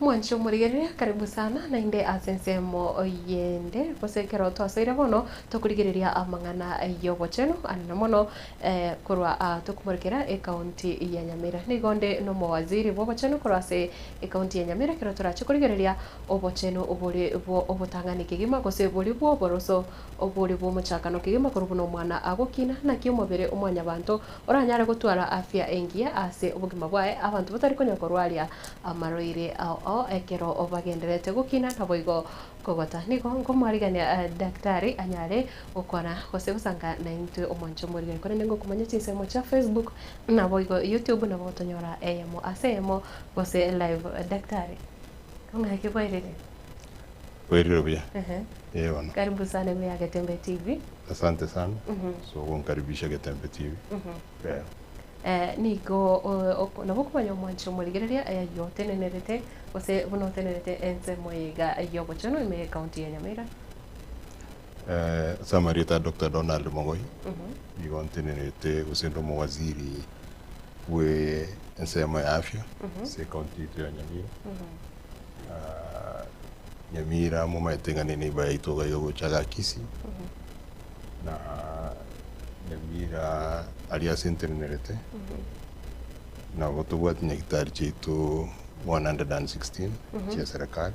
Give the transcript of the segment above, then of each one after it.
Mwanche omorigereria, karibu sana naende ase ensemo yende, gose ekero twasoire bono tokorigereria amang'ana y'obochenu anene mono korwa aa tokomorokera ekaunti ya Nyamira. Nigo nde n'omowaziri bw'obochenu korwa ase ekaunti ya Nyamira ekero torache korigereria obochenu bore bw'obotang'ani kegima gose bori bw'oboroso obore bw'omochakano kegima korwa buna omwana agokina naki omobere o mwanyabanto Oranyare gotwara afya engiya ase obogima bwaye, abanto batari konya korwaria amarwaire ao ao ekero bagendererete gokina naboigo kogota. Nigo nkomwarigania daktari anyare gokwana gose gosanka naintwe omonche omorikani. Korende ngokomanya chinsemo chia Facebook naboigo YouTube nabo gotonyora eyemo ase eyemo gose live. Daktari, ng'aki bwairire? Kwerire buya. Ehe. Ee bono. Karibu sana buya Getembe TV. Asante sana. Ase ogonkaribisha Getembe TV. Eeh. Eh, nigo o- nabo okomanya omwancho omorigereria ayio otenenerete, gose buna otenerete ensemo eye iga y'ogochenu ime y'ecounty ya Nyamira? Ase amarieta a Doctor Donald Mogoi, nigo ntenerete gose inde omowaziri bwe ensemo ya afya ase ecounty yaito ya Nyamira. Nyamira momaete ng'a ne neighbour yaito iga iga gocha iga Kisii, na Nyamira aria ase ntenenerete nabo tobwate nyagitari chiaito 116 chia serekari.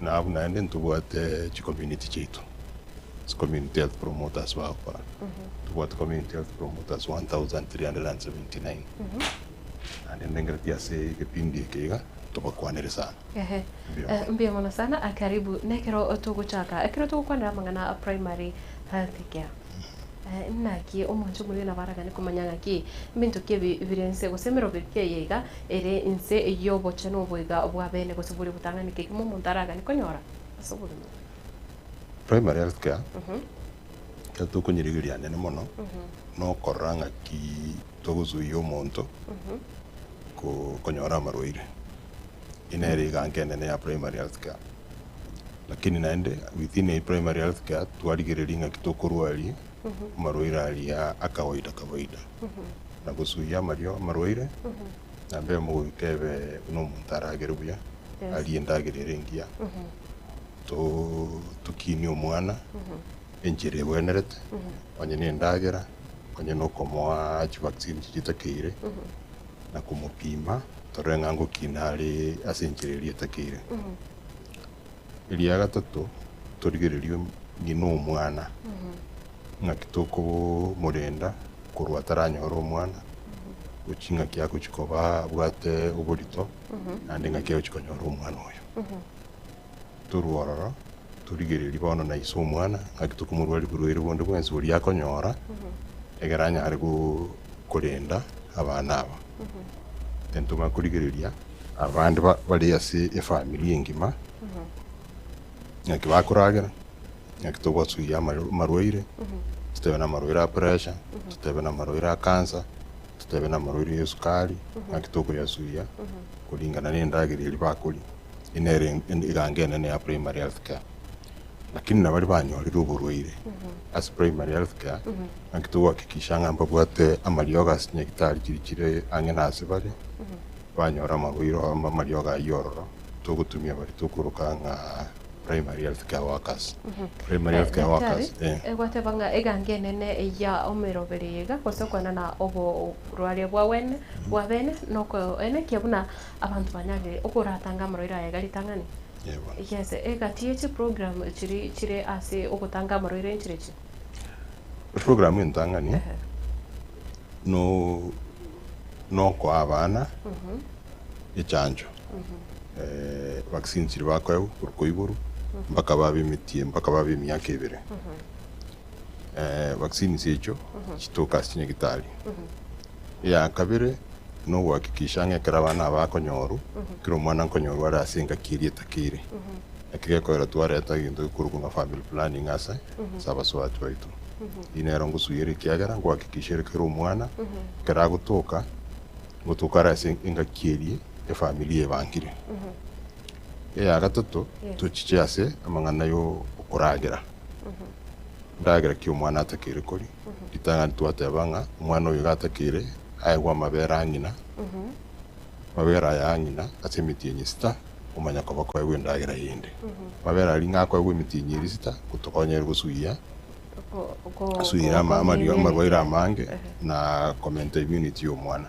na abwo naende ntobwate chicommunity chiaito, chicommunity health promoters bagokora, ntobwate community health promoters 1379 naende ndengereti ase egepindi eke iga tobakwanere sana. Ehe, Mbuya mono. mbuya mono sana. Karibu nekero togochaka, ekero togokwanera amang'ana a primary health care. Naki omonche omoyio nabaragane komanya ng'aki ebinto ki ebi bire inse, gose emeroberio eye iga ere inse y'obochia na oboiga bw'abeene, gose bori obotang'ani ki ekemo omonto aragane konyora ase obogima obo. Primary health care, ekero tokonyirigiria hanene mono nokorora ng'aki togosuia omonto konyora amarwaire, eye nere eganka enene ya primary health care. Lakini naende within a primary health care twarigereria ng'aki tokorwa aria amarwaire aria a kawaida kawaida na gosuia amario amarwaire na mbemo goika ebe buna omonto aragere buya arie endagera ere engiya to tokinie omwana enchera egwenerete onye na endagera onye na okomoa chi vaccine chiria etakeire na komopima torore ng'a ngokina are ase enchera eria etakeire. Eria gatato, torigererio ng'ina omwana. Ng'aki tokobomorenda korwa ataranyore omwana, gochia ng'aki agochia koba abwate oborito, naende ng'aki agochia konyora omwana oyo. Torwe ororo, torigererie bono na ise omwana, ng'aki tokomorwaria borwaire bonde bwensi boria akonyora, ekero anyare go- korenda abana aba. Intwe tobwate korigereria. Abande bare ase efamiri engima, ng'aki bakoragera, ng'aki togwasugia amaro- amarwaire, totebe namarwaire a pressure, totebe namarwaire a cancer, totebe namarwaire ya esukari, ng'aki tokoyasugia kuringana nendagera eria bakoria, eye nere en- eganga enene ya primary health care. Lakini nabaria banyorire oborwaire ase primary health care, ng'aki togoakikisha ng'a mbabwate amariogo ase chinyagitari chiria chire ang'e nase bare, Twanyora amaboiro amariogo ayio ororo togotumia baria tokoroka ng'a Primary Health Care Workers. Primary Health Care Workers, eh. Daktari, gwateba ng'a eganga enene ya omoiroberi iga gose okwana na oborwaria bwa bwene bwa bene noko ene ekiya buna abanto banyarire okoratange amarwaire aya iga ritang'ani. Yebo. Yes, egati ye chiprogram chiri chire ase ogotanga amarwaire enchire echi. Eprogramu entang'ani no nokoa abana echancho vaccine chiria bakoewa korwa kwa igoro mpaka babe emitie mpaka babe emiaka ebere. Vaccines echio chitoka ase chinyagitari. Eye akabere nogohakikisha ng'a ekero abana aba bakonyorwa, kera omwana nkonyorwa are ase engaki eria etakeire. Naki gekoera twareta egento gekorokwa ng'a family planning ase ase abasoati baito. Eyio nero ngosuyiera ekiagera nkohakikisha ere kera omwana ekero agotoka, ngotoka are ase engaki eria efamiri ebangire. Eya gatato tochiche ase amang'ana yo okoragera, endagera ki omwana atakeire koria, Ritang'ani twateba ng'a omwana oyo iga atakeire aegwe amabere a ng'ina, amabere aya a ng'ina ase emitienyi esita omanya koba koegwa endagera eyende. Amabere aria ng'a akoegwa emitienyi eria esita gotokonyere gosugia gosugia amarwaire amange na komenta immunity y'omwana.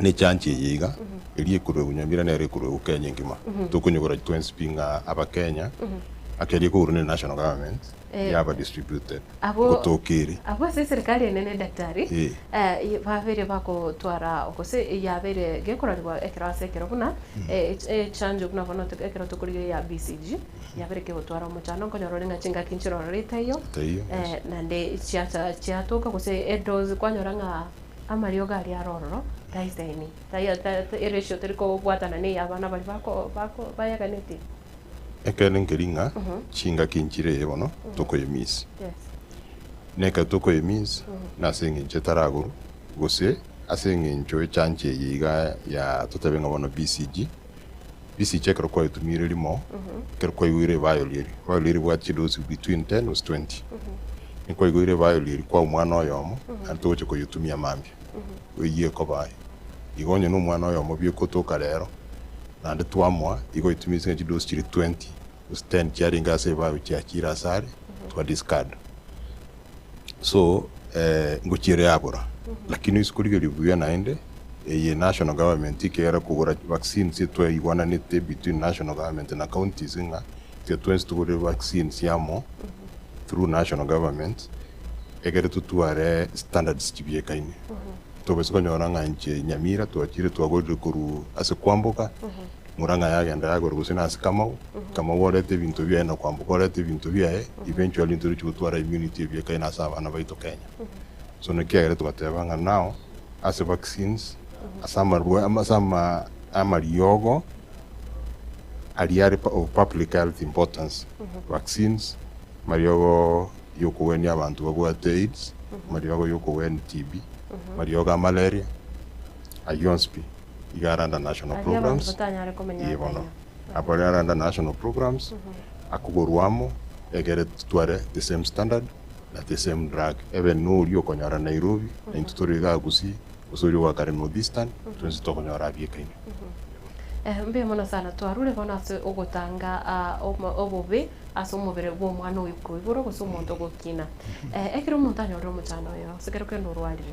ne chanchi eye iga, eria ekorwa egunywa embira nero ekorwa egu Kenya engima. Tokonyigora twensi pi ng'a aba Kenya, ake eria ekogorwa ne national government, Eh. yaba distributed Abwo- gotokeire. abwo ase eserikari enene daktari Eh. eh, babeire bagotwara gose yabeire gekororigwa ekero ase ekero buna eh, ech- echanjo buna bono to- ekero tokorigia ya BCG yabere kegotwara omochando nkonyora ore ng'a chingaki nchirorete iyo Taiyo, yes. eh, naende chiacha chiatoka gose edozi kwanyora ng'a Amariogo aria are ororo, taisemi, tai ratio teri kobwatana neye abana baria bayeganeti. Ekeene nkeri ng'a chingaki nchire eye bono tokoye miss. Na ekero tokoye miss nase engencho etari agoro gose ase engencho echancha eye iga ya totebe ng'a bono BCG. Risiche ekero kwaritumire rimo, ekero kwaigwire ebaayori eri, ebaayori eri ebwate chidoozi between ten gose twenty. Ekero kwaigwire ebaayori eri kwao omwana oyomo, naende togochia koyetumia mambia, eyio ekoba aye. Igo onye nomwana oyomo bi'okotoka rero, naende twamoa, igo oyetumisie nka chidoozi chiria twenty, Gose ten chiarenge ase ebao chiachire ase are twa discard so eh ngochiere yabora lakini oise korigeria buya naende eye national government ekegera kogora vaccine ase twaigwananete between national government na counties ng'a intwe twensi togore vaccines amo through national government egere totware standards chibiekaine tobisa konyora ng'a inche Nyamira twachire twagorire korwa ase kwamboka Murang'a yagenda yagora gose nase Kamau, Kamau orete ebinto biaye na kwamboka orete ebinto biaye, eventually ntoruche gotwara immunity ebuya kae nase abana baito Kenya. So naki kiagera togateba ng'a now ase vaccines, ase amarwa ama ase ama amariogo aria are pa of public health importance, vaccines, mariogo yokogwenia abanto babwate aids, mariogo yokogwenia TB, mariogo a malaria, Ayio onsi pi. Iga Aranda National Aria abanto Programs, batanyare komenya iye bono. atenywa. Akore Aranda National Programs, akoborwa amo, egere titware the same standard na the same drug. Ebe noria okonyora Nairobi, na intwe tore iga Gusii, gose oria ogakare North Eastern, twensi tokonyora abiekaine. Eh, mbuya mono sana. Twarure bono ase ogotanga ah, omo- obobe ase omobere bw'omwana oyo koiborwa gose omonto ogokina. Eh, ekero omonto anyorire omochando oyo, ase ekero kende orwarire,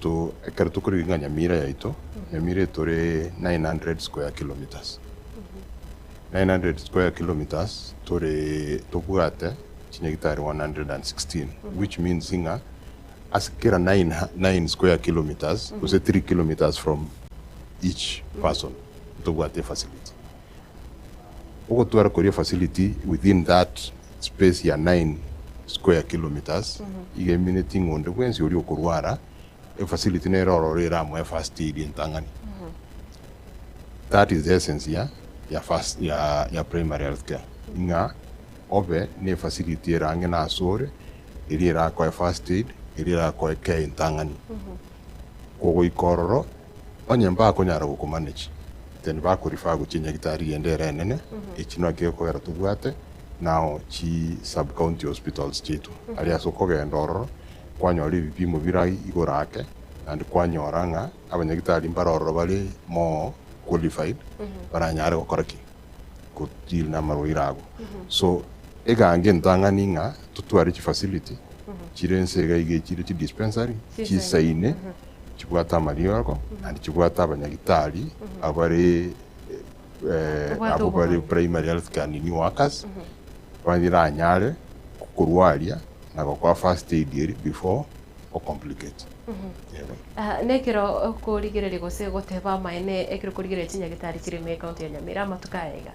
To ekero tokorigia ng'a Nyamira yaito, Nyamira etore 900 square kilometres, 900 square kilometres tore tobwate chinyagitari 116 which means ng'a ase kera 9 square kilometres gose 3 kilometres from each person ntobwate efacility. Ogotwara koria facility within that space ya nine square kilometres iga emineti ng'a onde bwensi oria okorwara efacility nere ororo eramoe first aid entang'ani. That is the essence ya ya first ya ya primary health care ng'a obe ne efacility ere ang'e na asore eria erakoe first aid eria erakoe care entang'ani. Kogoika ororo. Onye mbakonyara gokomanech, then bakorifa gochia nyagitari ende ere enene, echinwa ki okogera tobwate nao chi sub-county hospitals chiaito. Aria ase okogenda ororo kwanyora ebipimo bire igoro ake and kwanyora ng'a abanyagitari mbare ororo bare more qualified baranyare gokora ki? Go deal namarwaire ago. So egange entang'ani ng'a totware chifacility chire ense iga iga echire chidispensary chisaine. chibwate amariogo and chibwate abanyagitari abare abwo bare primary health care nini workers bariranyare kokorwaria na gokora first aid eria before o complicate. Nekero okorigereria gose goteba amaene ekero okorigereria chinyagitari chire ime ecounty ya Nyamira amatuko aya iga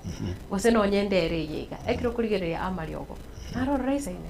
gose nonye endere eye iga ekero okorigereria amariogo naro orore isaine?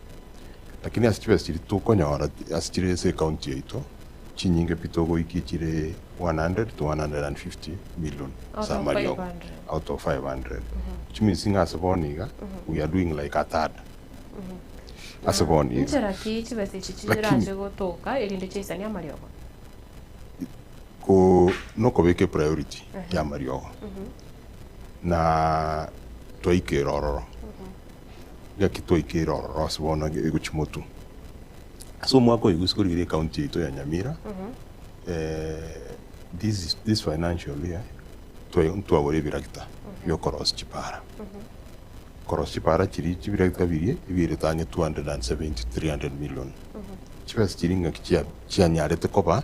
Lakini ase chibesa chiria tokonyora ase chire ase ecounty yaito chinyinge pi togoikia chire 100 to 150 million ase amariogo out of 500 which means ng'a ase bono iga we are doing like a third ase bono iga. Inchera ki chibesa echi chiranche gotoka erinde chiaisanie amariogo? Ko nokobeka epriority y'amariogo na twaikera ororo. Gaki twaikeire ororo ase bono enga egochia motu. Ase omwaka oyo gosi korigiria ecounty yaito ya Nyamira this financial year ntwagora ebiragita biokorosia chipara. Korosia chipara chiria chibiragita biria ebiaire tani 270 300 million. Chibesa chiria ngaki chianyarete koba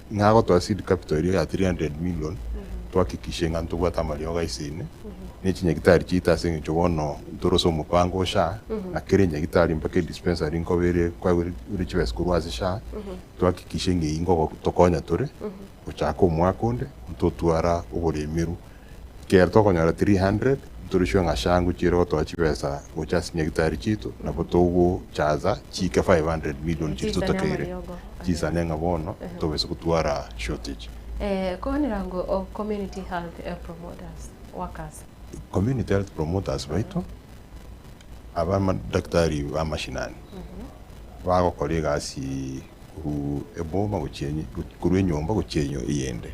Ng'a agotoa seed capital eria ya 300 million, twahakikishe ng'a ntobwate amariogo ase ime, na echinyagitari chiaito ase eng'encho bono ntore ase omopango o SHA, na kera enyagitari mpaka edispensary nkoba ere kwagure ore chibesa korwa ase SHA, twahakikishe ng'a eyio nigo tokonya tore, gochaka omwaka onde, ntotwara oboremeru. Ekero tokonyora 300, ntorisiwe ng'a changu chi'ire gotoa chibesa gocha ase nyagitari chiaito, nabo togochaza chiike 500 million chiria totakeire, chisane ng'a bono tobase gotwara shortage. Koonera ngo Community Health Promoters, workers. Community Health Promoters baito, abadaktari ba mashinani, bagokora egasi korwa eboma gochia korwa enyomba gochia eyende.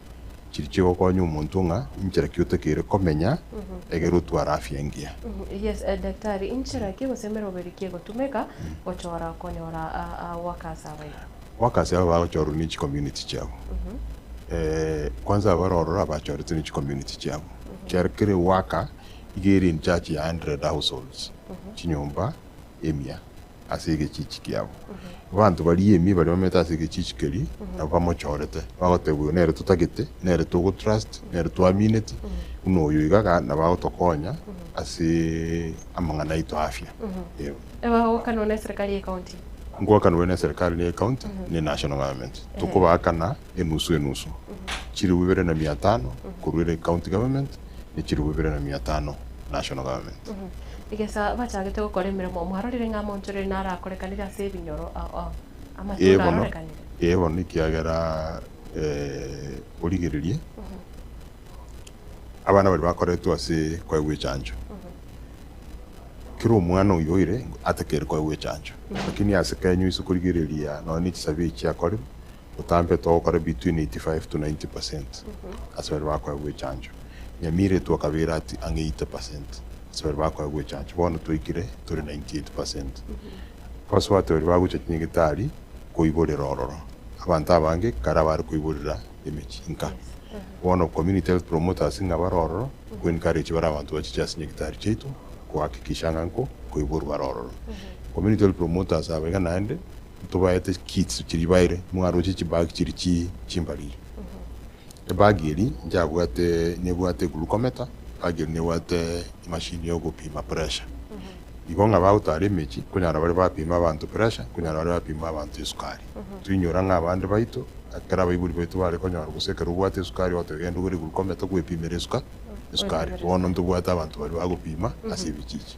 chiria chigokonya omonto ng'a inchera ki otakeire komenya egere otware afya engiya. Yes, Daktari, inchera ki gose emeroberi ki egotumeka gochora konyora workers aba iga? Workers aba bagochorwa ne chicommunity chiabo. Kwanza abare ororo abachoretwe ne chicommunity chiabo. Ekiagera kera eworker iga ere in charge ya hundred households, chinyomba emia. ase egechichi kiabo. Abanto baria ime baria bamete ase egechichi keria nabwo bamochorete, bagoteba oyo nere totagete, nere togotrust, nere twamineti, buna oyo iga iga nabo agotokonya ase amang'ana aito afya. Eeh. Ebagoakanwa neserikari y'ecounty. Ngoakanwe neserikari y'ecounty ne national government. Tokobaakana. enusu enusu, chilifu ibere na mia tano korwa ere County Government ne chilifu ibere na mia tano National Government. Egesa bachagete gokora emeremo mwarorire ng'a amoonchorere naro akorekanire ase ebinyoro amatunda Ee bono, arorekanire? ee bono ekiagera eh, origererie abana baria bakoretwe ase koegwa echancho, kera omwana oyio oire atakeire koegwa echancho, lakini ase Kenya oise korigereria nonye ne chisabe echi chiakorire, Botambe togokora between 85 to 90 percent ase baria bakoegwa echancho. Nyamira etwo kabere at ang'e 80 percent ase baria bakoegwa echancho. Bono twaikire tore 98 percent. Abasubati baria bagocha chinyegitari koiborera ororo. Abanto abange kare bare koiborera emechie inka. Bono community health promoters ng'a bare ororo go encourage bare abanto bachiche ase nyegitari chiaito ko hakikisha ng'a nko koiborwa bare ororo. Community health promoters aba iga naende. Ntobaete chisu chiria baire mwaroche chibag chiria chi chimbariri. Ebag eri njabwate nebwate eglucometer, ebag eri nebwate emashini ya ogopima pressure. Igo ng'a bagotara emechie nkonyara bare bapime abanto pressure, nkonyara bare bapime abanto esukari. Toinyora ng'a abande baito, ekero abaibori baito bare konyora gose ekero obwate esukari ogotoba genda ogore eglucometer kwepimera esuka esukari. Bono ntobwate abanto baria bagopima ase ebichichi.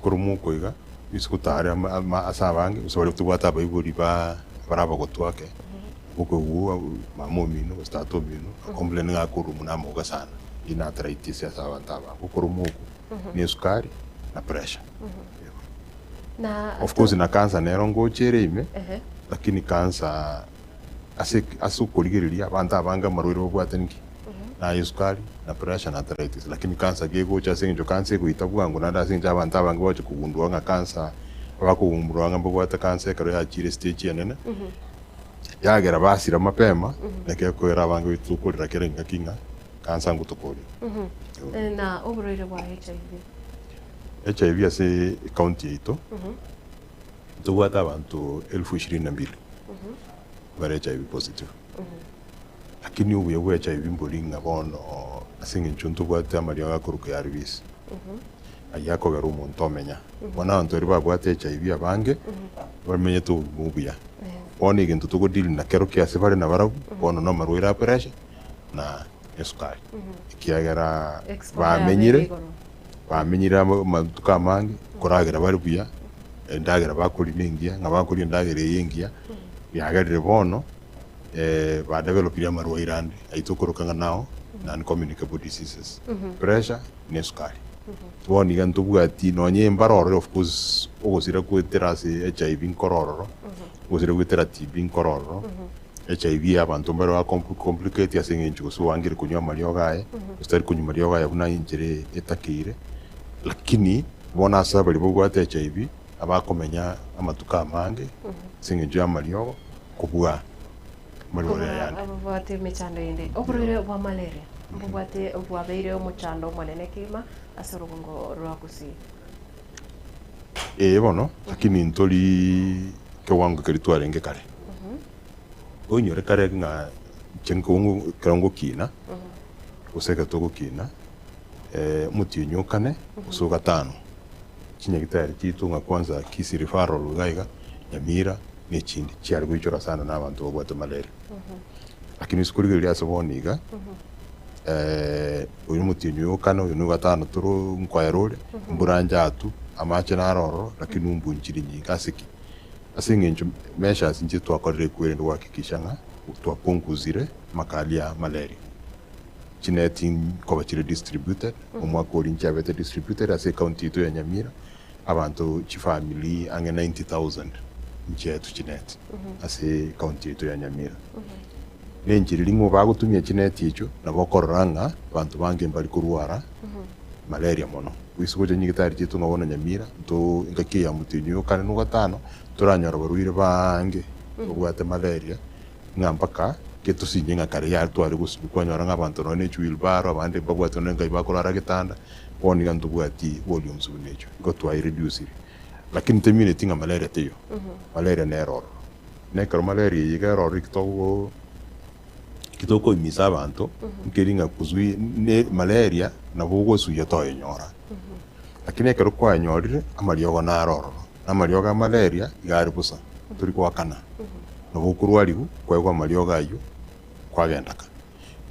Ekero mokoa iga, gose gotare ama ase abange, gose baria tobwate abaibori bare abagotwa ake, okogigwa mama omino gose tata omino a complain ng'a akorwa omino amoga sana, eyio n'arthritis ase abanto abange, ekero mokoa n'esukari na pressure. Of course na cancer nero ngocha ere ime, lakini cancer. Ase ki? Ase okorigereria abanto abange amarwaire babwate nki? Na aye esukari, na pressure, na arthritis. Lakini cancer ki egocha ase engencho cancer egoita bwango naende ase engencho abanto abange bagocha kogundua ng'a cancer, abakogundua ng'a mbabwate cancer ekero yachiire estage enene, yagera basira mapema, naki ekoera abange goita tokorera kera engaki ng'a cancer nigo tokorera. Eeh, na oborwaire bwa HIV? HIV ase ecounty yaito. Ntobwate abanto elfu ishirini na mbili bare HIV positive. Lakini obuya bwa HIV mbori ng'a bono ase eng'encho ntobwate amariogo akoruka ARVs, ayio akogera omonto omenya. Bono abanto baria babwate HIV abange bamenyete obogima obuya. Bono egento togodeal nakero ki ase bare nabarabwo bono namarwaire a pressure na. esukari, ekiagera bamenyire, bamenyire amo amatuko amange koragera bare buya, endagera bakoria nengiya, ng'a bakoria endagera eye engiya, yagerire bono badevelopirie amarwaire ande ayio tokoroka ng'a nao non communicable diseases, pressure na esukari. Bono iga ntobwati nonya embara orore of course ogosira goetera ase HIV nkoro ororo, ogosira goetera TB nkoro ororo. HIV ya abanto mbare oa com complicate ase engencho gose oangire konywa amariogo aye gose tari konywa mariogo aye buna enchera etakeire lakini bono ase abaria babwate HIV abakomenya amatuko amange ase engencho ya amariogo kobua amarware Kobua ayande. ababwate emechando eyende. Oborwaire bwa malaria mbobwate bwabeire omochando omonene kegima ase orogongo rwa gusii. Ee bono, lakini ntori kewango keria twarenge kare. Oinyore kare ng'a chiang kewango ekero ngokina, gose ekero togokina, omotienyi o kane gose o gatano, chinyagitari chiaito ng'a kwanza Kisii Referral iga iga, Nyamira na echindi, chiare goichora sana na abanto babwate malaria. Lakini rituko rigiya riria ase bono iga. oyio omotienyi oyo okane, oyo no ogatano toro nkoera ore, mbura njatu, amache naro ororo, lakini umbunchiri nyinga, ase ki? Ase eng'encho measures inche twakorire ekwo erinde gohakikisha ng'a twaponguzire amakali ya malaria. Chineti nkoba chire distributed, omwaka oria nchiabete distributed ase ecounty yaito ya Nyamira, abanto chifamiri ang'e ninety thousand nchiaetwe chineti ase ecounty yaito ya Nyamira. Nenchera erimo bagotumia chineti echio nabo okorora ng'a abanto bange mbari korwara malaria mono. Goise gocha nyagetari chiaito ng'a bono Nyamira nto engaki eya motwe enywe o kane no gatano toranyora barwaire baange babwate malaria ng'a mpaka ke tosinye ng'a kare yare tware gosinywa kwanyora ng'a abanto nonya ne chiwilbaro abande mbabwate nonya engabi bakorara getanda bono iga ntobwati warioms buna echio igo twa ireducire lakini temineti ng'a malaria teiyo malaria nero ororo. Nekero maleria eyio ekero ororo eki togo eki tokoimisa abanto nkeri ng'a kuzui ne maleria nabo ogosuya toyenyora. Lakini ekero kwayenyorire amariogo naro ororo, na amariogo a maleria iga are bosa tori goakana. Nabo okorwariwu kwaigwa amariogo ayio kwagenda kare.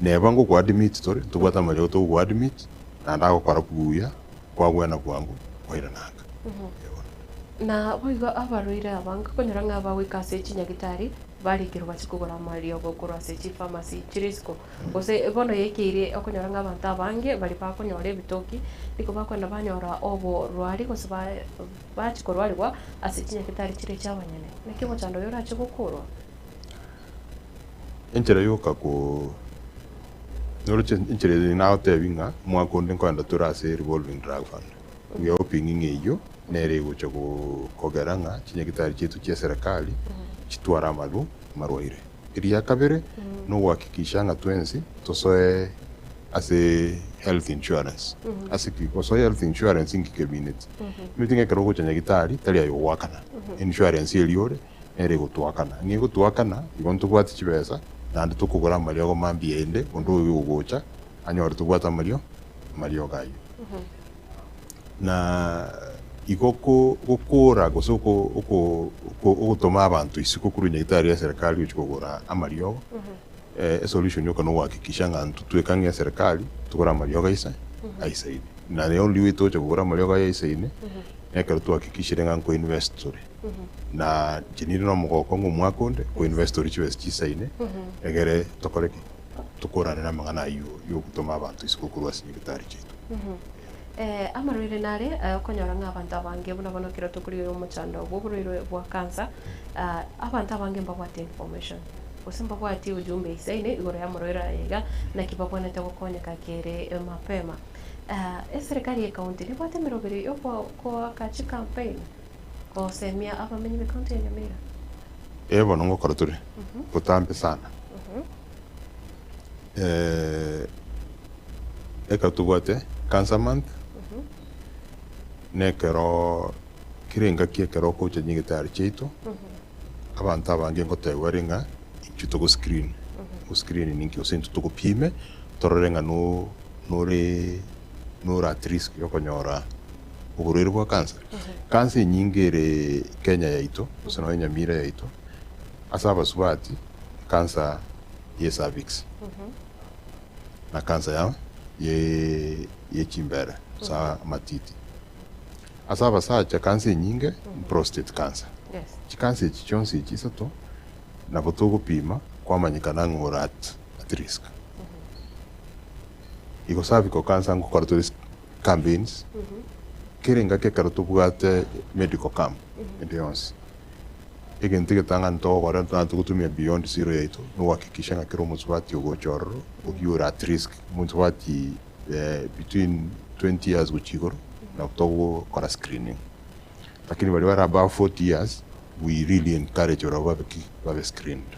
Neba ngokoadmit tore tobwate amanyinga togokoadmit naende agokora buya kwabwena bwango kwairananga. Ee bono. Na boigo abarwaire aba ngakonyora ng'a bagoika ase echinyagitari barekerwe bache kogora amariogo korwa ase chifamasi chire isiko. Gose bono yaikeire okonyora ng'a abanto abange baria bakonyora ebitoki nigo bakogenda banyora oborwari gose ba bachia korwarigwa ase chinyagitari chire chiabanyene. Naki omochando oyo orache gokorwa? Enchera yoka ko nyoroche enchera eyo nagotebi ng'a omwaka onde nkoenda tore ase revolving drug fund. We are hoping ng'a eyio nere egocha go kogera ng'a chinyagitari chiaito chia eserekari chitware amarwa amarwaire. Eria kabere no gohakikisha ng'a twensi tosoe ase health insurance. Ase ki gosoa health insurance inki kebinetie? Kebinetie ng'a ekero ogocha nyagitari tari aye ogoakana insurance eria ore. ere egotoakana. Ng'a egotoakana, igo ntobwati chibesa, naende tokogora amariogo mambia aende onde oyo ogocha anyore tobwate amario amariogo ayio. Na igo gokora gose ogotoma abanto isiko korwa nyagetari ya serikali gochia kogora amariogo, esolution yoka nogohakikisha ng'a intwe tweka ng'a eserikali togore amariogo aise aisaine. Naye onde oyo tocha kogora amariogo aye aisaine, nekero twahakikishire ng'a nko invest tore. na chiniri nomogoko ng'a omwaka onde oinvest ore chibesa chisaine egere tokore ki? Tokorane namang'ana ayio yogotoma abanto isiko korwa ase nyagetari chiaito. Eh, amarwaire nare eh, okonyora ng'a abanto abange buna bono ekero tokori oyo omochando bw'oborwaire bwa cancer, ah, abanto abange mbabwate information gose mbabwati ujumbe isaine igoro y'amarwaire aya iga, naki babwanete gokonyeka kere mapema. Ah, eserekari y'ecounty nebwate emeroberi yoko koaka chicampaign, gosemia abamenyi b'ecounty ya Nyamira. Ee bono ngokora tore botambe sana ekero tobwate cancer month nekero kera engaki ekero okocha nyagetari chiaito abanto abange ngotebiwa ere ng'a intwe togo screen, go screen ninki gose intwe togopiime torore ng'a nore at risk yokonyora. oborwaire bwa cancer. Cancer enyinge ere Kenya yaito gose nonya Nyamira yaito ase abasubati cancer ye cervix na cancer ya ye chimbere gose amatiti. Ase abasacha cancer enyinge prostate cancer. Chi cancer echi chionsi echi isato nabo togopima kwamanyekana ng'a ore at risk. Igo cervical cancer ngokora tore. campaigns, kera engaki ekero tobwate medical camp ende yonsi, egento egetang'ani ntogokora ntoanche gotumia beyond zero yaito na gohakikisha ng'a kera omonto bwati ogocha ororo oyio ore at risk, omonto bwati between twenty years gochia igoro nabo togokora screening. Lakini baria bare above forty years we really encourage ororo babe ki? Babe screened.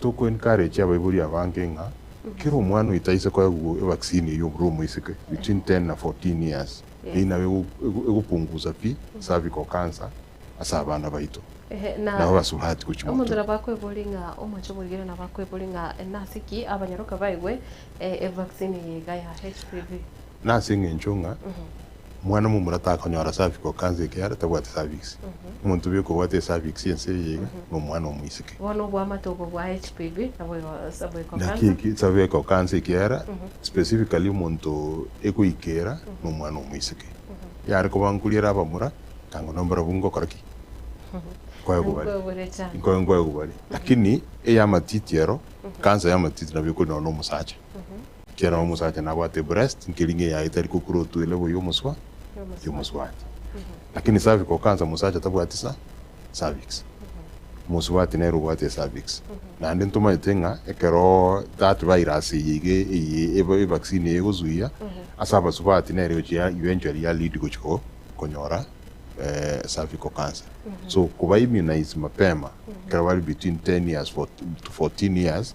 Tokoencourage abaibori abange ng'a kera omwana oito aise koegwa evaccine eyio buru omoiseke between ten na fourteen years eyio nabo ego egopunguza pi cervical cancer ase abana baito Ehe, na nabo basubati gochia omonto motwe. nabo akweborie ng'a omoche omorigereria nabo akweborie ng'a nase ki abanyaroka baegwe eh, evaccine eye iga ya HPV. Nase eng'encho ng'a Omwana omomura takonyora cervical cancer ekiagera tabwati cervix. Omonto obe okobwata ecervix ense eye iga nomwana omoiseke. Bono oboamate obo bwa HPV nabo igo cervical Naki cancer. eki cervical cancer ekiagera specifically omonto ekoikera nomwana omoiseke. Yare koba nkori ere abamura tango nambarabwo ngokora ki? Nkoegwa bare. Nkwegure chande. Nko nkoegwa bare. Lakini eyamatiti ero cancer yamatiti nabo ekori nonya nomosacha. Ekiagera omosacha nabwate breast nkeri ng'eyaye etari kokura otwele boyia omoswa y'omosubati. Lakini cervical cancer omosacha tabwati sa cervix. Omosubati nere obwate ecervix. Naende ntomaete ng'a ekero that virus eye iga eye eba evaccine eye egosuia ase abasubati nere egochia eventually ya lead gochia ko konyora cervical cancer. So koba immunise mapema ekero bari between ten years to fourteen years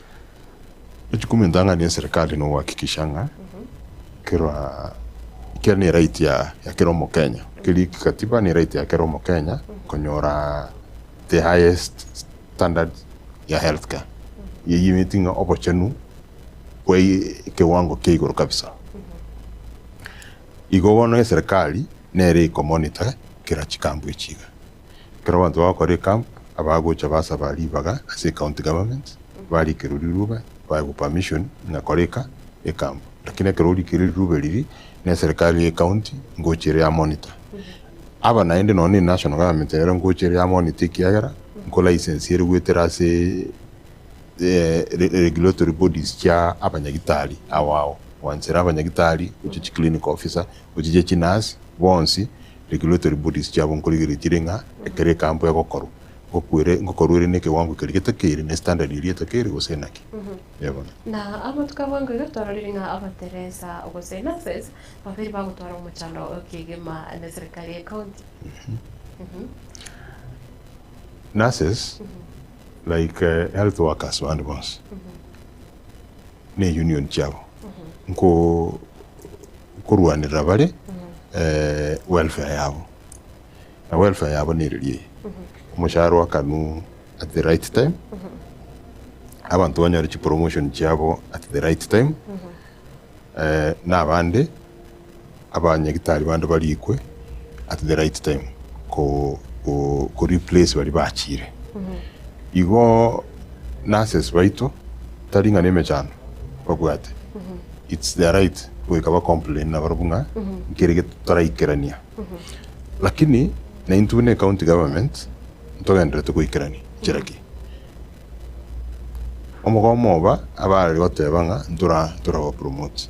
Echikumintang'ani eserikali nogohakikisha ng'a kera kera ne right ya ya kera omokenya keria kikatiba ne right ya kera omokenya konyora the highest standard ya health care eyio emeti ng'a obochenu bwa ekewango kia igoro kabisa. Igo bono eserikali nere eko monitor kera chikampu echi iga Ekero abanto bagokora ecamp, abagocha basaba ribaga ase ecounty government, barikerwe riruube, baegwe permission ng'a kora eka ecamp. Lakini ekero orikerwe riruube riria neserikali ye county, ngocha ere ya monitor. Aba naende nonya ne national government nero ngocha ere ya monitor ekiagera nko license ere goetera ase regulatory bodies chia abanyagitari ao ao. Gwanchera abanyagitari, gocha chiclinical officer, gocha chia chinurse, bonsi Regulatory bodies chiabo nkorigereria chire ng'a ekero ekampu egokorwa, ngokwere, ngokorwere nekewango keria getakeire, ne standard eria etakeire gose inaki? Ee bono. Na amo tikaboengwa iga twarorire ng'a abateresa gose nurses babere bagotwara omochando kegima ne serikali ye county. Nurses, like health workers bande bonsi, ne union chiabo nko. nkorwanerera bare welfare yabo, na welfare yabo nereria eye, omoshahara oakanwe at the right time, abanto banyore chipromotion chiabo at the right time, na abande abanyagitari bande barikwe at the right time koreplace baria bachire. Igo nurses baito tari ng'a nemechando babwate. It's their right goika ba complain nabarabwo ng'a nkere gento totaraikerania. Lakini naintwe buna ecounty government ntogenderete goikerania nchera ki? Omogomo oba abare goteba ng'a ntora ntora ba promote.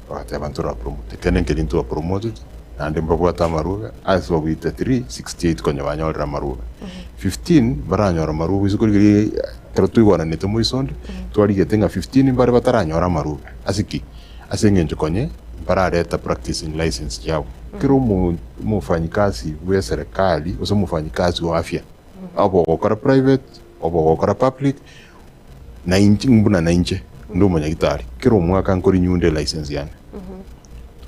Bagateba, Ntoraporomoti, ekiagera nkeri ntwaporomoteti, naende mbabwate amarube, ase ogoita 3, 68 konya banyorire amarube, 15 mbaranyore amarube isiko riria ekero twaigwananete moiso onde, twarigete ng'a 15 mbare bataranyora amarube, ase ki? Ase engencho konye mbarareta practicing license chiabo. Kera omo- omofanyikasi bw'eserekari, gose omofanyikasi o afya, oba ogokora private, oba ogokora public, Na inche, buna nainche nde omonyagitari, kera omwaka nkorinyuunda elicense yane.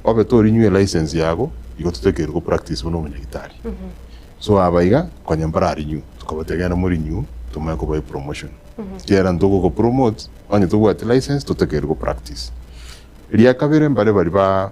Obe torinyue elicense yago, igo totakeirwe gopractice buna omonyagitari. So aba iga, konya mbararenew, tokabatebia genda morenew, tomanye kobae promotion. Kera ntogogopromote, onye tobwati license, totakeirwe gopractice. Eria kabere, mbare baria ba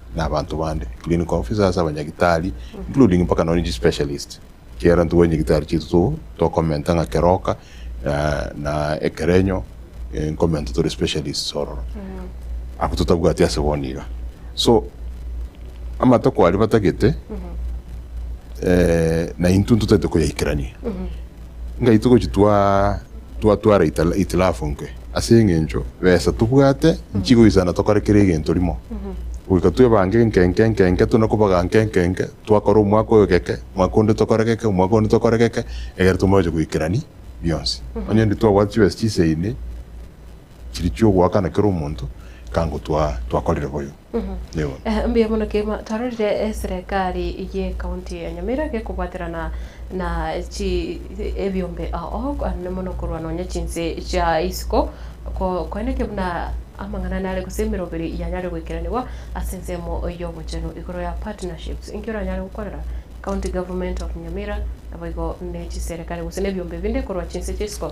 na abanto bande, clinical officers, abanyagitari including mpaka nonya chi specialist chiera ntugore nyagitari chiaito to tokomenta ng'a keroka na na ekerenyo eh, nkomenta tore specialists ororo abwo totabwati ase bono iga so amatako aria batagete eh, na intwe ntotagete koyaikerania. Ngai togochitwaa twatwara itilafu nke, ase engencho besa tobwate inchi goisana tokore kera egento rimo, goika twebange enkenke enkenke tuna kobaga nke enkenke, twakora omwaka oyo geke, mwaka onde tokore geke, omwaka onde tokore geke, egere tomoche goikerani bionsi. Onye ntitwabwati chibesa chiseine. Chiri chi'ogoakana kera omonto kango twakorire boyo. Nigo. Mbuya mono kegima twarorire eserekari y'ecounty ya Nyamira gekobwaterana na chi ebiombe oo aande mono korwa nonya chinse chia isiko ko koende ki buna amang'ana nare gose emeroberi yanyare goikeranigwa ase ensemo y'obochenu igoro ya partnerships inki oranyare gokwanera county government of Nyamira naboigo ne chiserekari gose ne ebiombe binde korwa chinse chia isiko.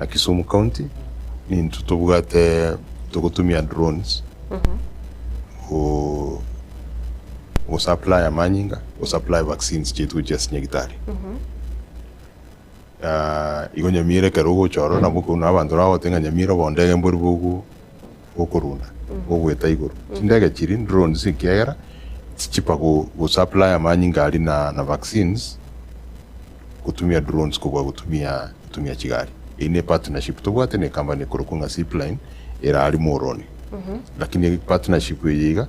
Na Kisumu County ninto tobwate togotumia drones go go supply amanyinga go supply vaccines chiaito chia sinyagitari igo nyamira ekero ogocha ororo nabo okobuna abanto nabo bagogotebi ng'a nyamira obo ndege mbori bogu. gokorunda gogoeta igoro. Chindege chiri, drones, ekiagera tichichiba go go supply amanyinga aria na na vaccines gotumia drones kobua gotumia gotumia chigari. Eyio ne partnership tobwate ne company ekorokwa ng'a Zipline ere aria Muhoroni. Lakini partnership eye iga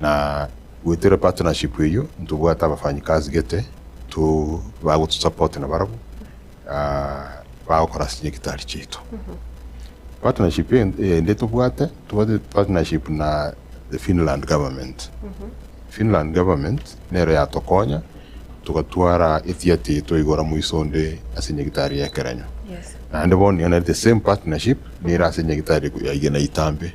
Na goetera partnership eyio ntobwate abafanyikazi gete to bagotusupport na barabwo bagokora ase nyagitari chiaito. Partnership ende tobwate, tobwate partnership na the Finland government. Finland government nero yatokonya togatwara etheatre eye twaigora moiso onde ase nyagitari ya Ekerenyo. Naende bono nigo nere the same partnership nere ase nyagitari ya Igena Itambe.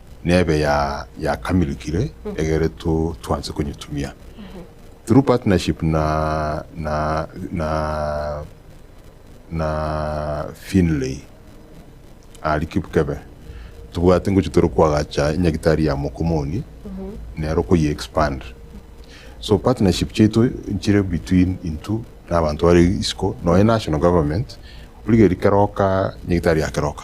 nebe ya yakamirikire egere to twanse konyetumia through partnership na na na na Finlay ari Kipkebe tobwate ngochia tore koagacha enyagitari ya mokomoni nero koyi expand so partnership chiaito nchire between intwe na abanto bare isiko nonya national government origereria keroka nyagitari ya keroka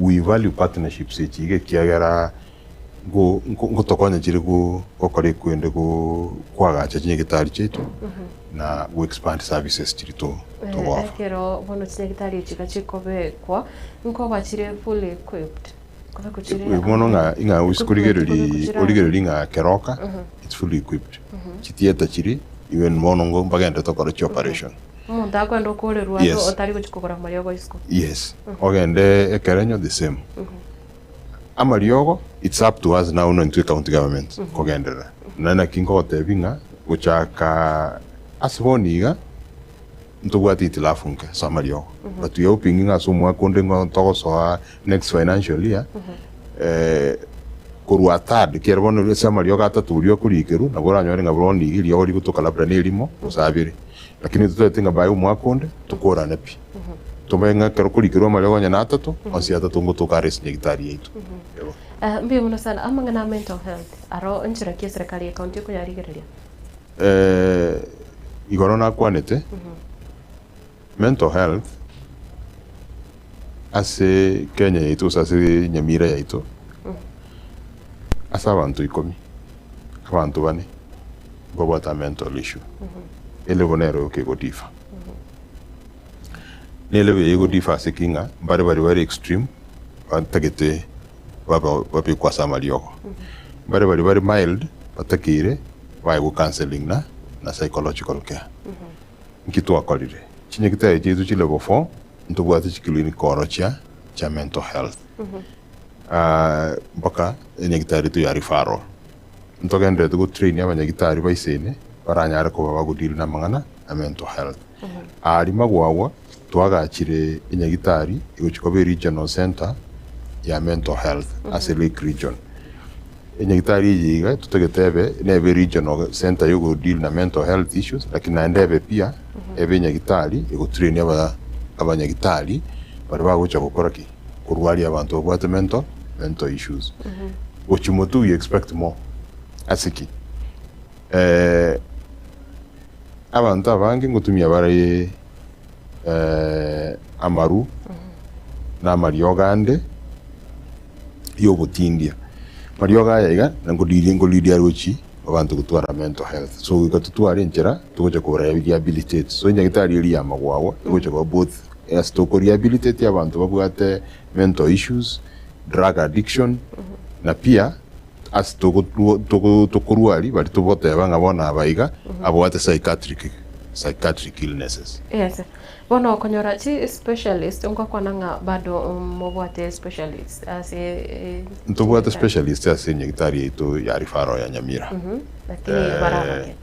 we value partnerships echi iga ekiagera nko nko nkotokonya chire go gokora ekwende go kwagacha chinyagetari chiaito na go expand services chiri to Eh, togofa. ekero bono chinyagitari echi iga chikobekwa nkoba chire fully equipped kobekwa chire Eh, bono ng'a amang'ana. ing'a Equipment osikorigereri kobekwa chire origereri ng'a keroka it's fully equipped chitieta chiri even bono ngo mbagende tokore chioperation Omonto akwenda okoorerwa ande Yes. otari gochia kogora amariogo isiko. Yes. Ogende ekerenyo the same. Amariogo it's up to us now nointwe county government kogenderera. Naende naki nkogotebi ng'a gochaka ase bono iga ntobwate itilafu nke ase amariogo. But we are hoping ng'a ase omwaka onde ng'a togosoa next financial year eh, korwa third kere bono ase amariogo atato boria okoriikerwa nabo oranyore ng'a bono iga eriogo rigotoka labda nerimo gose abere. Lakini intwe twareti ng'a baye omwaka onde tokorane pi. Tobae ng'a ekero korikerwe amariogo onye na atato, onsi atato nigo toka are ase nyagitari yaito. Ewa. Eeh, mbuya mono sana. Amang'ana a mental health aro nchera ki eserekari ya county ekoyarigereria? Eeh, igoro nakwanete, mental health ase Kenya yaito gose ase Nyamira yaito, ase abanto ikomi. Abanto bane mbabwate a mental issue ere bono ero yoka ego differ. Nere buya ego differ ase ki ng'a mbare baria bare extreme batagete baba babekwe ase amariogo. Mbare baria bare mild batakeire baegwe counselling na na psychological care. Nki twakorire? Chinyagitari chiaito chi level four ntobwate chi clinic orochia chia mental health. Mpaka enyagitari etu yaria Faro, ntogendererete gotrainia abanyagitari baisene baranyare koba bagodeal namang'ana a mental health. Aria magwagwa twagachire enyagitari egochia koba eregional centre ya mental health ase Lake Region. Enyagitari eye iga totagete ebe nebe regional centre yogodeal na mental health issues lakini naende ebe pia ebe enyagitari egotrainia abanyagitari baria bagocha gokora ki? korwa aria abanto babwate mental mental issues gochia moto we expect more ase ki eh, abanto abange ngotumia bare eh, amaru na amariogo ande ya obotindia amariogo aya iga na ngodiria ngoridia rochi abanto gotwara mental health so iga totware enchera togocha kora rehabilitate so enyagetari eria yamagwagwa egocha koba both Yes toko rehabilitate abanto babwate mental issues, drug addiction na pia ase toko toko tokorwari bari togoteba ng'a bono aba iga abwate psychiatric psychiatric illnesses. Yes bono okonyora chi specialist ngokwana ng'a bado mobwate specialist ase Ntobwate specialist ase enyagitari yaito ya referral ya Nyamira. Lakini barabake. Eh.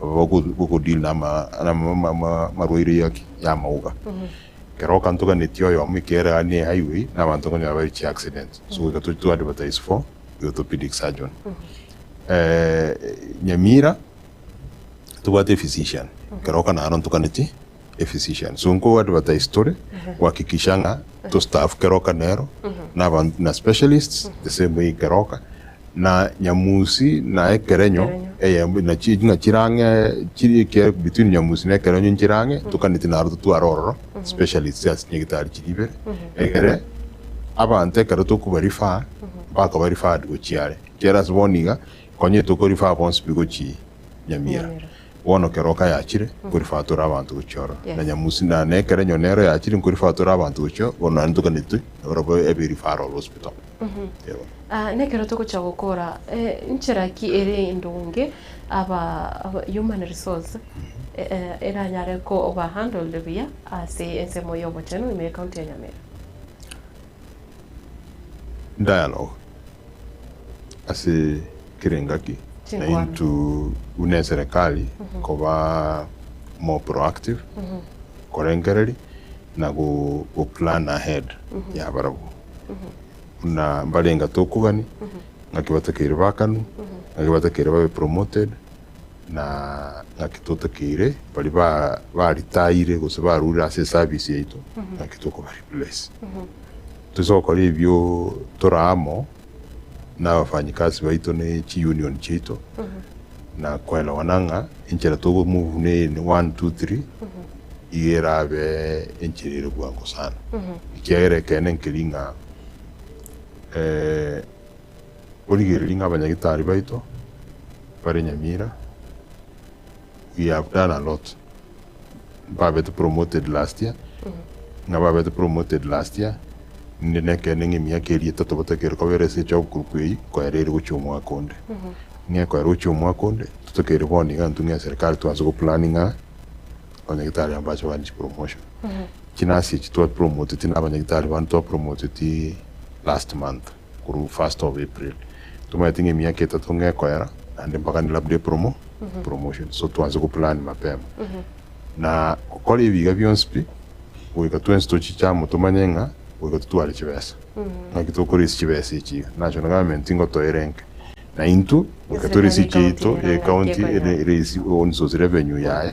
gokodeal namarwaire y'amauga. Ekero okantoganetie oyomo ekiagera gaki ne highway na abanto okonyora bare chi accident so goika tochie to advertise for the orthopedic surgeon. Nyamira tobwate ephysician ekero okana naro ntoganetie. a physician. So nko advertise tore kuhakikisha ng'a to staff keroka nero na abanto na specialists the same way keroka na nyamusi na ekerenyo eyemo na chi ng'a chirang'e chiri eke between nyamusi na ekerenyo nchirang'e tokaneti naro totware ororo specialists ase chinyagitari chiri ibere egere abanto ekero tokoba refer bakaba referred gochia are. Ekiagera ase bono iga konyete oko refer bonsi pi gochia Nyamira. Bono kera oka yachire, nkorifatora abanto gochia oro, na nyamusi na na ekero enyoni ero yachire, nkorifatora abanto gochia oo, bono naende toganetwe nabarabwo ebe referral hospital. Eeh. Aa, nekero togocha gokora, eh, nchera ki ere endonge aba aba human resource e- e eranyare koba handled buya ase ensemo y'obochenu ime y'ecounty ya Nyamira? Dialogue, Ase kera engaki naintwe buna eserekari koba more proactive, korengereria na go plan ahead yabarabwo buna mbarenga tokogani ngaki batakeire bakanu, ngaki batakeire babe promoted. na ng'aki totakeire baria ba ba retire gose barurire ase eservice yaito ng'aki tokoba replace. Toise gokora ebio tore amo na abafanyikazi baito na chi union chiaito na koerawana ng'a enchera togo move ne eye ne one, two, three iga erabe enchera ere bwango sana ekiagera ekeene nkeri ng'a Origererie ng'a abanyagitari baito bare nyamira we have done a lot mbabete promoted last year ng'a babete promoted last year inde nekende ng'a emiaka eria etato batokeire koba erase echo group eyio koera ere gochia omwaka onde ng'a koera gochia omwaka onde totokeire bono iga intwe ng'a eserikari twanse goplani ng'a abanyagitari aba mbache kogania chipromotion chinasi echi twapromoteti na abanyagitari bande twapromoteti last month. korwa first of April tomaete ng'a emiaka etato ng'a ekoera naende mpaka ni labda epromo epromotion so twanse go plan mapema na gokora ebi iga bionsi pi goika twensi tochiche amo tomanye ng'a goika totware chibesa ng'aki tokora ase chibesa echi iga national government nigo toerenke na intwe goika tore ase Eserikali echi yaito y'ecounty ya ecounty ecounty ere ere ase ore source revenue yaye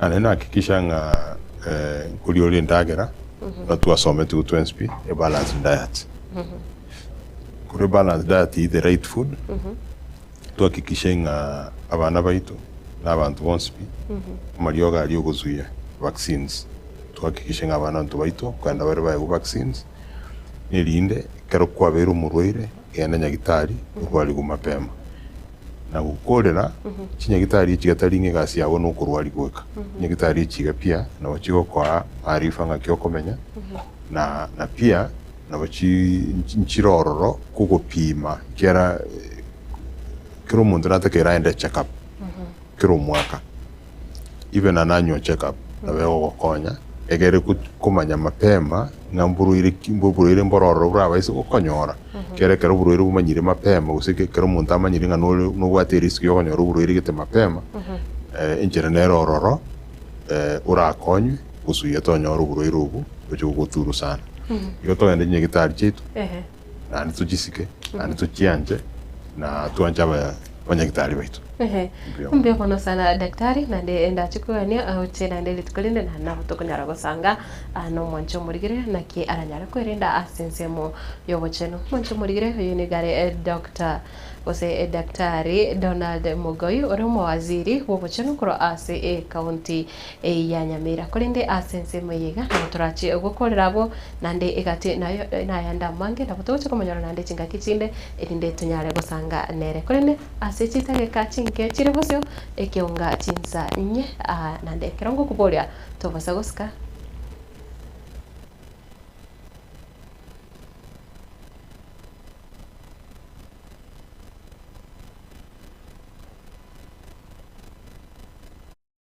Naende nahakikisha ng'a nkoriora endagera ekero twasometi gotwa enswe, a balanced diet. Korwa ebalanced diet eat the right food, twahakikishe ng'a abana baito na abanto bonsi pi amariogo aria ogosuia, vaccines, twahakikishe ng'a abanto baito kogenda bare baegwe vaccines, erinde ekero kwabeire omorwaire. genda nyagitari orwarigwe mapema. Na gokorera chinyagitari echi gata ring'e egasi yabo na okorwari goika nyagitari echi iga pia nabo chigokoa maarifa ng'aki okomenya na na pia nabo chi nchire ororo kogopima kera kera omonto natake eraende echeckup kera omwaka. Ibe na nanywe o check up nabo egogokonya egere komanya mapema ng'a mborwaire ki mborwaire mbororo borabaise gokonyora kere ekero oborwaire bumanyire mapema gose ekero omonto amanyire ng'a nore nobwate erisk ya okonyora oborwaire gete mapema enchera nere ororo orakonywe gosugia tonyore oborwaire obwo oche gogoturusana. Igo togende chinyagetari chiaito. naende tochisike, naende tochianche, na twanche aba- abanyagitari baito. Ehe, Mbuya mono. mbuya mono sana daktari, naende ndache kogania aoche naende rituko rinde na nabo tokonyara gosanga aa, na omwanche omorigire naki aranyare kwerenda ase ensemo y'obochenu. Omwanche omorigire oyo nigare eh, Doctor gose edaktari Donald Mogoi, ore omowaziri bw'obochenu korwa ase ekaunti eyio ya Nyamira. Korende ase ensemo eye iga nabo torache gokorera abwo, naende egati nayo nayande amange, nabo togochia komonyora naende chingaki chinde, erinde tonyare gosanga nere. Korende ase chisegeka chinke chire bosio, ekeonga chinsa inye, aa naende ekero ngokoboria tobosa gosika.